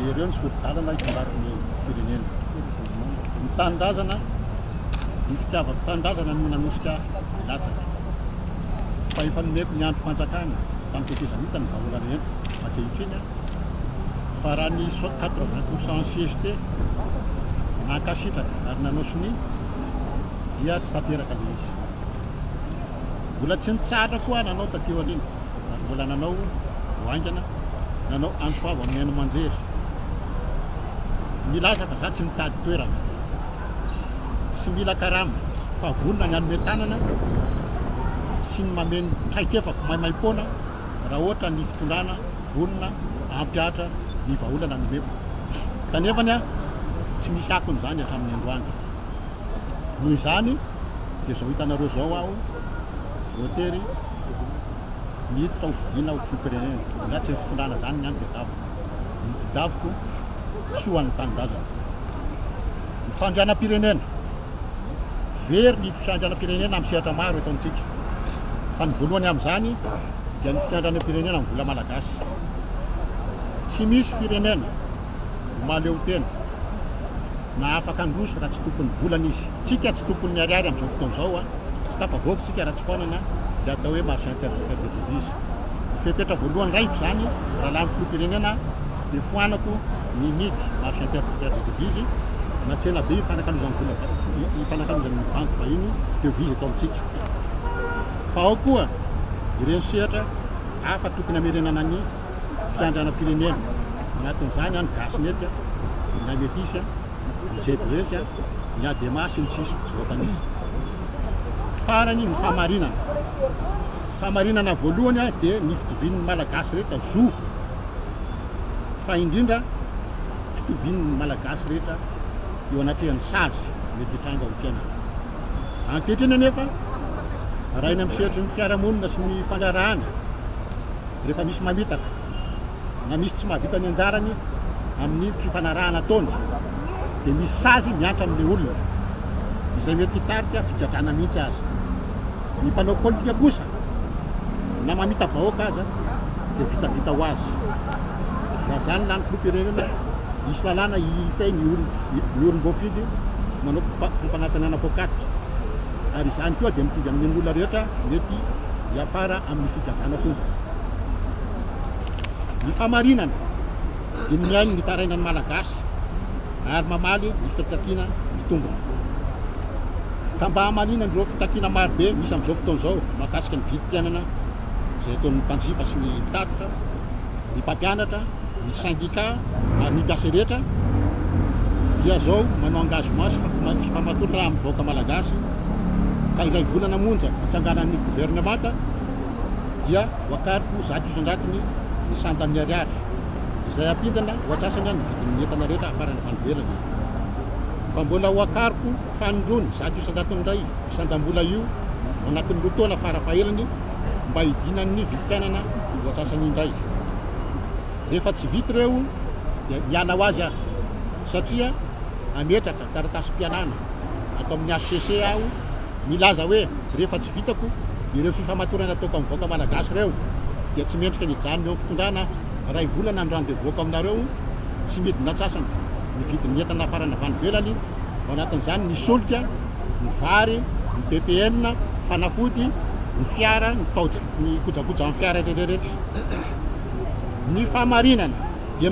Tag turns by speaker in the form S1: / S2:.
S1: Jereo ny sori-dalana hitambara ny firenena. Ny tanindrazana, ny fitiavako tanindrazana no nanosika hilatsaka. Fa efa nomeko ny andrim-panjakana tamin'ny tetezamita ny vahaolana eto ankehitriny fa raha ny 80 pour cent CST nankasitraka ary nanao sonia dia tsy tanteraka ilay izy. Mbola tsy nitsahatra koa aho nanao taty aoriana. ary mbola nanao vao haingana nanao antso avo amin'ny haino aman-jery nilaza fa za tsy mitady toerana tsy mila karama fa vonona ny hanome tanana sy ny mameno traikefako maimaim-poana raha ohatra ny fitondrana vonona hampihatra ny vahaolana nomeko kanefa ny a tsy misy akony izany hatramin'ny androany noho izany dia izao hitanareo izao aho voatery mihitsy fa ho fidiana ho filoham-pirenena na tsy ny fitondrana izany ny ahy ny tedaviko ny tedaviko soa ho an'ny tanindrazana ny fandrianam-pirenena very ny fiandrianam-pirenena amin'ny sehatra maro eto amintsika fa ny voalohany amin'izany dia ny fiandrianam-pirenena amin'ny vola malagasy tsy misy firenena maleo tena na afaka handroso raha tsy tompon'ny volana izy tsika tsy tompon'ny ariary amin'izao fotoana izao a Tsy tafavoaka isika raha tsy foanana ilay atao hoe marche interlocal des devises. Ny fepetra voalohany raikitra izany raha lany filoham-pirenena aho dia foanako ny mid marche interlocal des devises na tsena be ifanakalozan'ny vola ifanakalozan'ny banky vahiny devises eto amintsika. Fa ao koa ireny sehatra hafa tokony hamerenana ny fiandrianam-pirenena. Anatin'izany an ny gasy mety an, ny lahy metisy an. ny Jebresy, ny Adema sy ny sisa Tsy voatanisa farany ny fahamarinana Fahamarinana voalohany dia ny fitovian'ny Malagasy rehetra zo fa indrindra fitovian'ny Malagasy rehetra eo anatrehan'ny sazy mety hitranga ao amin'ny fiainana Ankehitriny anefa raha eny amin'ny sehatry ny fiarahamonina sy ny fandraharahana rehefa misy mamitaka na misy tsy mahavita ny anjarany amin'ny fifanarahana ataony dia misy sazy miantra amin'ilay olona, izay mety hitarika figadrana mihitsy aza. Ny mpanao politika kosa na mamita vahoaka aza dia vitavita ho azy. Raha izany lany filoham-pirenena, hisy lalàna hihilifay ny olom-boafidy manao fampanantenana poakaty. ary izany koa dia mitovy amin'ireo olona rehetra mety hiafara amin'ny figagana fomba. Ny fahamarinana dia mihaino ny tarainan'ny Malagasy ary mamaly ny fitakiana mitombina. Ka mba hamaliana an'ireo fitakiana marobe misy amin'izao fotoana izao mahakasika ny vidim-piainana, izay ataon'ny mpanjifa sy ny mpitatitra, ny mpampianatra, ny sendika ary ny mpiasa rehetra dia izao manao engagement sy fifamatoana raha amin'ny vahoaka malagasy ka indray volana monja hitsanganan'ny governemanta dia hoakariko zato isan-jatony ny sandan'ny ariary izay ampindana ho antsasany ny vidin'ny entana rehetra afarana avy any ivelany fa mbola hoakariko fanindrony zato isan-jatony indray Sandam-bola io ao anatin'ny roa taona fara fahelany mba hidinan'ny vidim-piainana ny voasasany indray. Rehefa tsy vita ireo dia miala ho azy aho satria hametraka taratasim-pialana ato amin'ny hcc aho milaza hoe rehefa tsy vitako ireo fifamatorana ataoko amin'ny vahoaka malagasy ireo dia tsy mendrika ny hijanona eo amin'ny fitondrana aho. Iray volana ny rendez-vous-ko aminareo tsy midina antsasany. ny vidin'ny entana nafarana avy any ivelany, ao anatin'izany ny solika, ny vary, ny ppn, fanafody, ny fiara, ny taoja, ny kojakojan'ny fiara rehetrarehetra. Ny fahamarinana dia.